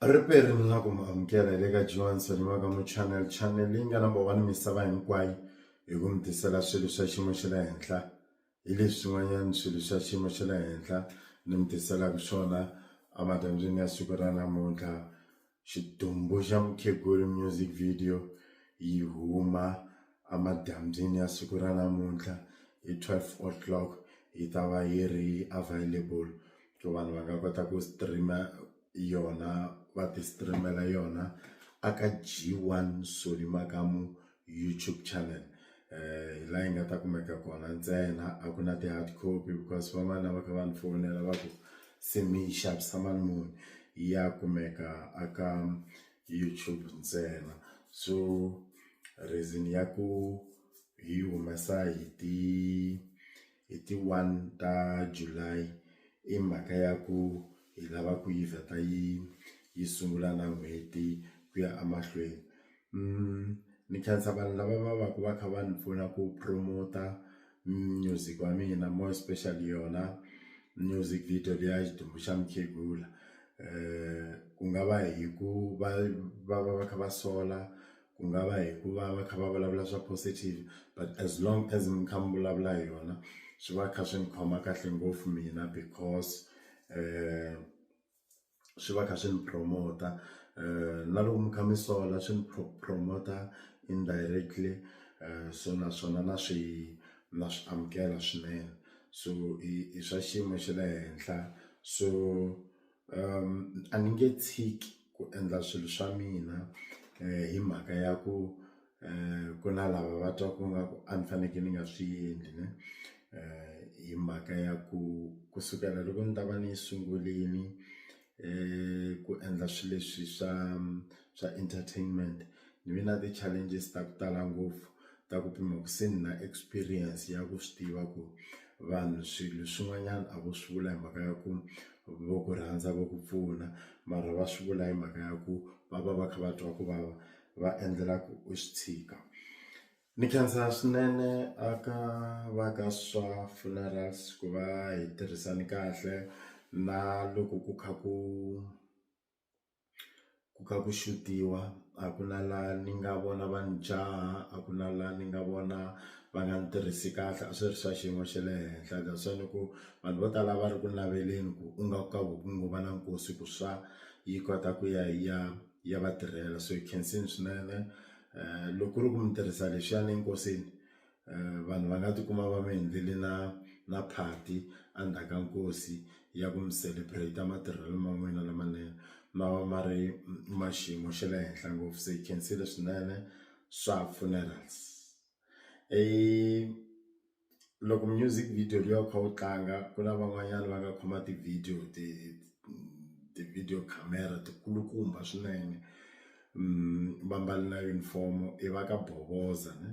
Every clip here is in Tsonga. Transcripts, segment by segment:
Riperini na ku mi amukela hi le ka Joan Soniwaka mu channel channel leyi nga number one misava hinkwayo hi ku mi tisela swilo swa xiyimo xa le henhla hi leswi swin'wanyana swilo swa xiyimo xa le henhla ni mi tiselaka swona emadyambyini ya siku ra namuntlha xidumbu xa mukheguri music video yi huma emadyambyini ya siku ra namuntlha hi twelve o'clock yi ta va yi ri available ku vanhu va nga kota ku stream-a. yona va ti stream-ela yona a ka G one Solly Makamu YouTube channel hi laha yi nga ta kumeka kona ntsena a ku na ti hard copy because van'wana lava kha va ni fowunela va ku se mi yi xavisa mali muni ya kumeka a ka YouTube ntsena so reason ya ku hi humesa hi ti. hi ti one ta July i mhaka ya ku hi lava ku yi vheta yi yi sungula na n'hweti ku ya emahlweni ni khensa vanhu lava va va ku va kha va ni pfuna ku promote-a music wa mina more especially yona music video liya ya xidumbu xa mukhegula ku nga va hi ku va va va va kha va sola ku nga va hi ku va va kha va vulavula swa positive but as long as mi kha mi vulavula hi yona swi va kha swi ni khoma kahle ngopfu mina because swi va kha swi ni promote na loko mi kha mi sola swi ni promote indirectly so naswona na swi na swi amukela swinene so i swa xiyimo xa le henhla so. a ni nge tshiki ku endla swilo swa mina hi mhaka ya ku ku na lava va twa ku nga ku a ni fanekele ni nga swi endli ne hi mhaka ya ku kusukela loko ni ta va ni sungurile ku endla swilo leswi swa. swa entertainment ni ve na ti challenges ta ku tala ngopfu ta ku pima ku se ni na experience ya ku swi tiva ku vanhu swilo swin'wanyana a vo swi vula hi mhaka ya ku vo ku rhandza vo ku pfuna mara va swi vula hi mhaka ya ku va va va kha va twa ku vava va endlela ku u swi tshika ni khensa swinene a ka va ka swa funerals ku va hi tirhisane kahle na loko ku kha ku. ku kha ku xutiwa a ku na la ni nga vona va ni jaha a ku na la ni nga vona va nga ni tirhisi kahle a swi ri swa xiyimo xa le henhla that's why ni ku vanhu vo tala va ri ku naveleni ku u nga ka ku ngo va na nkosi ku swa yi kota ku ya yi ya yi ya va tirhela so yi khensile swinene loko ku ri ku mi tirhisa lexiyana enkosini vanhu va nga tikuma va mi endlele na na party endzhaku ka nkosi ya ku mi celebrate matirhelo ma n'wina lamanene ma va ma ri ma xiyimo xa le henhla ngopfu se hi khensile swinene swa funerals loko music video liya u kha u tlanga ku na van'wanyana va nga khoma ti-video ti ti-video camera ti kulukumba swinene. va mbale na uniform i va ka bovoza ne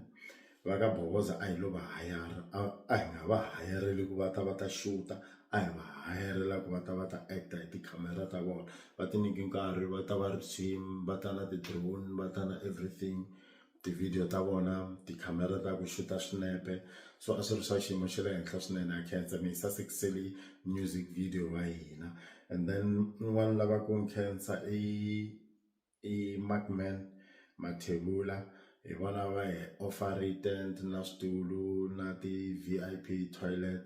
va ka bovoza a hi lo va hayara a hi nga va hayarile ku va ta va ta xuta a hi va hayarile ku va ta va ta act hi tikhamera ta vona va ti nyike nkarhi va ta va ri team va ta na ti drone va ta na everything ti video ta vona tikhamera ta ku xuta swinepe so a swi ri swa xiyimo xa le henhla swinene na khensa mi hi sasekisele music video wa hina and then un'wana lava ku nkhensa i. i Markman Mathebula hi vona va hi offer-tent na switulu na ti V_I_P toilet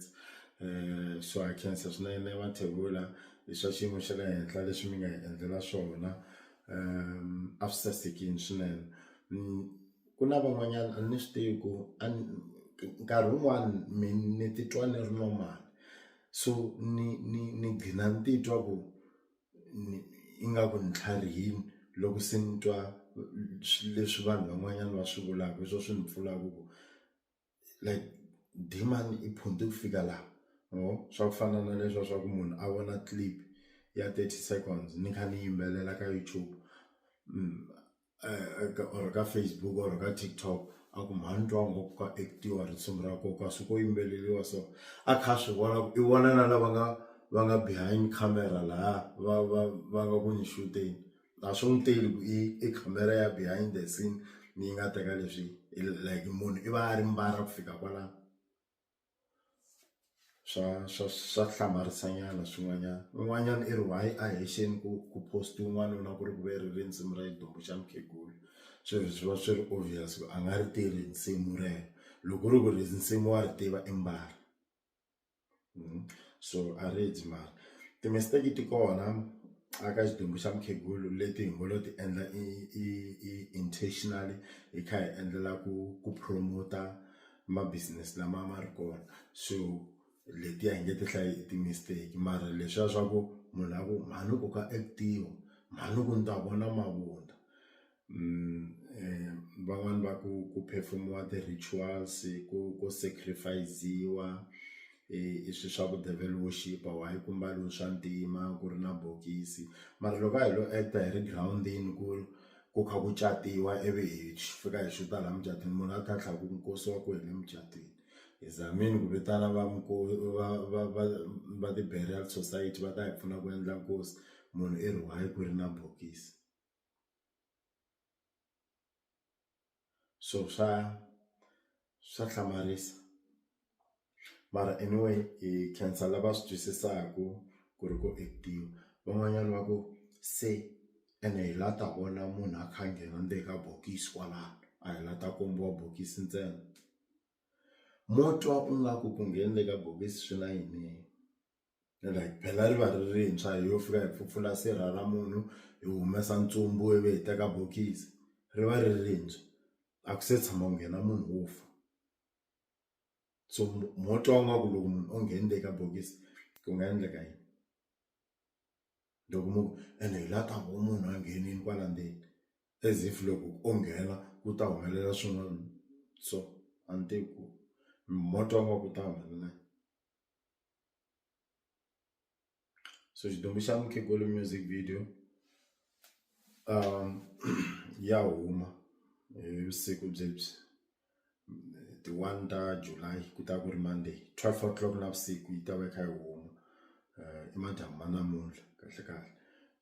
so ha khensa swinene Mathebula hi swa xiyimo xa le henhla leswi mi nga hi endlela swona a swi sasekile swinene ku na van'wanyana a ni swi tivi ku a ni nkarhi wun'wani mi ni titwa ni ri normal so ni ni ni gcina ni titwa ku. ingaku ni tlharihile loko se ni twa swilo leswi vanhu van'wanyana va swi vulaka hi swona swi ni pfunaka ku like demand i phunta ku fika laha ma vo swa ku fana na leswiya swa ku munhu a vona clip ya thirty seconds ni kha ni yimbelela ka YouTube . eh, eh, or ka facebook or ka tiktok a ku mhani twa ngo ku ka actiwa risimu ra koka swi ko yimbeleliwa so a kha swi vona ku i vona na lava nga va nga behind camera laha va va va nga ku ni shuteni a swi n'wi teli ku i i camera ya behind the scene ni yi nga teka leswi like munhu i va a ri mbara ku fika kwalano swa swa swa hlamarisa nyana swin'wanyana un'wanyana i ri why a hi xini ku ku post un'wana u lava ku ri ku ve ri risimu ra xidyoho xa mukhegula swi ri swi va swi ri obvious ku a nga ri tivi risimu rero loko u ri ku risimu wa ri tiva i mbala so a ri dyi mara ti mistake ti kona a ka xidumbu xa mukhegula leti hi ngo lo ti endla i i i intentionally hi kha hi endlela ku ku promote-a ma business lama ma ri kona so letiya hi nge ti hlayi i ti-mistake mara leswiya swa ku munhu a ku mhani ku ka actiwa mhani ku ni ta vona mavunwa van'wani va ku ku phefumuwa ti-rituals ku ku sacrifice-iwa i swi swa ku devil worship why ku mbariwe swa ntima ku ri na bokisi mara loko a hi lo act-a hi ri girawundini ku ri ku kha ku catiwa ivi hi fika hi xuta laha mucatwini munhu a tlhantlha ku nkosi wa kwini emucatwini hi zamile ku vitana va va va va va ti-burial society va ta hi pfuna ku endla nkosi munhu i ri why ku ri na bokisi. so swa swa hlamarisa mara anyway hi khensa lava swi twisisaka ku ri ku actor van'wanyana va ku se ene hi la ta vona munhu a kha a nghena ndzeni ka bokisi kwalano a hi la ta kombiwa bokisi ntsena mo twa ingaku ku nghene le ka bokisi swi na yini. like phela ri va ri rintshwa hi yo fika hi pfupfula sirha ra munhu hi humesa ntsumbu ivi hi teka bokisi ri va ri rintshwa a ku se tshama ku nghena munhu wo fa so mo twa nga ku loko munhu o nghenile eka bokisi ku nga endleka yini loko mu ku ene hi la ta ku munhu a nghenile kwala ndzeni as if loko o nghena ku ta humelela swin'wana so a ni tivi ku mo twa nga ku ta humelela yini. so xidumbu xa mukhegolo music video um ya huma hi vusiku byebyi ti one ta July ku ta ku ri Monday twelve o'clock navusiku yi ta va yi kha yi huma um i madyambu ma namuntlha kahle kahle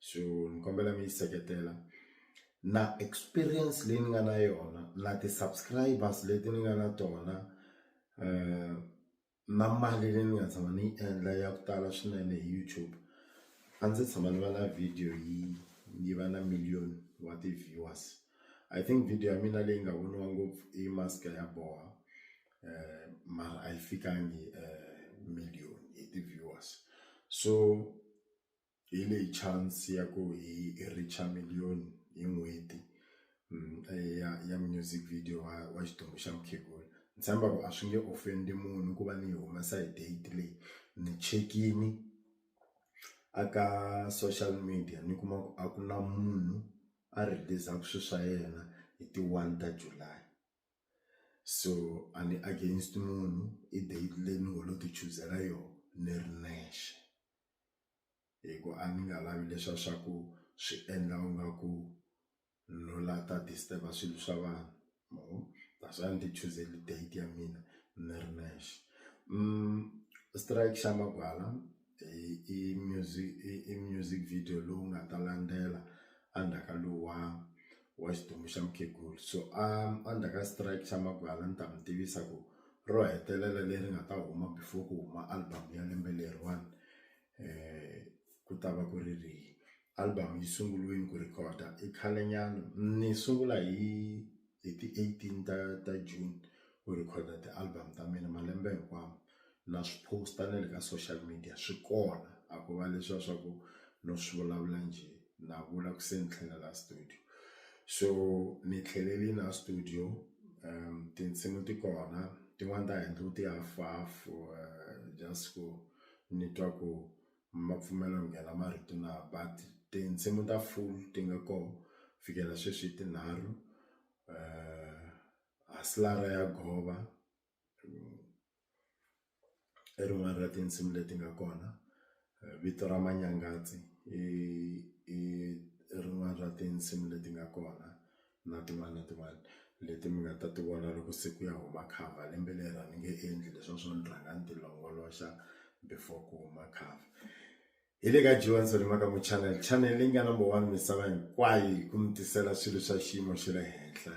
so ni kombela mi yi seketela na experience leyi ni nga na yona na ti-subscribers leti ni nga na tona um. na mali leyi ni nga tshama ni yi endla ya ku tala swinene hi YouTube a ndzi tshama ni va na video yi yi va na million wa ti-viewers I think video ya mina leyi nga voniwa ngopfu i mask ya boha mara a yi fikangi million hi ti-viewers so. hi leyi chance ya ku hi reach million hi n'hweti ya ya music video wa wa xitori xa mukhegula ni tshemba ku a swi nge ofend munhu ku va ni yi humesa hi date leyi ni chekini a ka social media ni kuma ku a ku na munhu a rhilizaka swilo swa yena hi ti one ta July so a ni against munhu i date leyi ni ngo lo ti chuzela yona ni ri nexe. hi ku a ni nga lavi leswa swa ku swi endla u nga ku no la ta disturb swilo swa vanhu ma vo that's why ni ti chuzele date ya mina ni ri nexe strike xa magwala i music i music video lowu nga ta landzela endzhaku ka luwa. wa xidumbu xa mukhegula so a endzhaku ka strike xa magwala ni ta mi tivisa ku ro hetelela leri nga ta huma before ku huma album ya lembe leriwani ku ta va ku ri rihi album yi sunguriwile ku record i khale nyana ni sungula hi hi ti eighteen ta ta June ku record ti-album ta mina malembe hinkwawo na swi post-a na le ka social media swi kona a ko va leswiya swa ku no swi vulavula njhe na vula ku se ni tlhela la studio so ni tlhelelini la studio tinsimu ti kona tin'wani ta handle ti half half just ku ni twa ku ma pfumela ku nghena marito na but tinsimu ta full ti nga ko fikela sweswi tinharhu Hustler ya Gova. i rin'wana ra tinsimu leti nga kona vito ra manyangatsi i i rin'wana ra tinsimu leti nga kona na tin'wana na tin'wana leti mi nga ta ti vona loko se ku ya huma cover lembe leri a ni nge endli leswiya swo ni rhanga ni ti longoloxa before ku huma cover hi le ka Johnson hi mhaka mu channel channel leyi nga number one misava hinkwayo hi ku mi tisela swilo swa xiyimo xa le henhla.